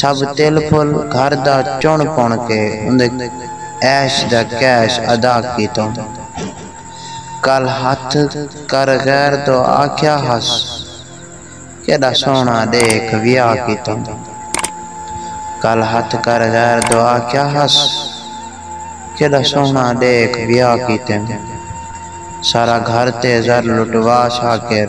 سب تل پھل گھر دا چݨ پݨ کے اوندے عیش دا کیش ادا کیتوں۔ کل ہتھ کر غیر توں آکھیا ہس کیݙا سوہݨا ݙیکھ ویاہ کیتوں۔ کل ہتھ کر غیر توں آکھیا ہس کیݙا سوہݨا ݙیکھ ویاہ کیتوں۔ سارا گھر تے زر لٹوا چھا کر۔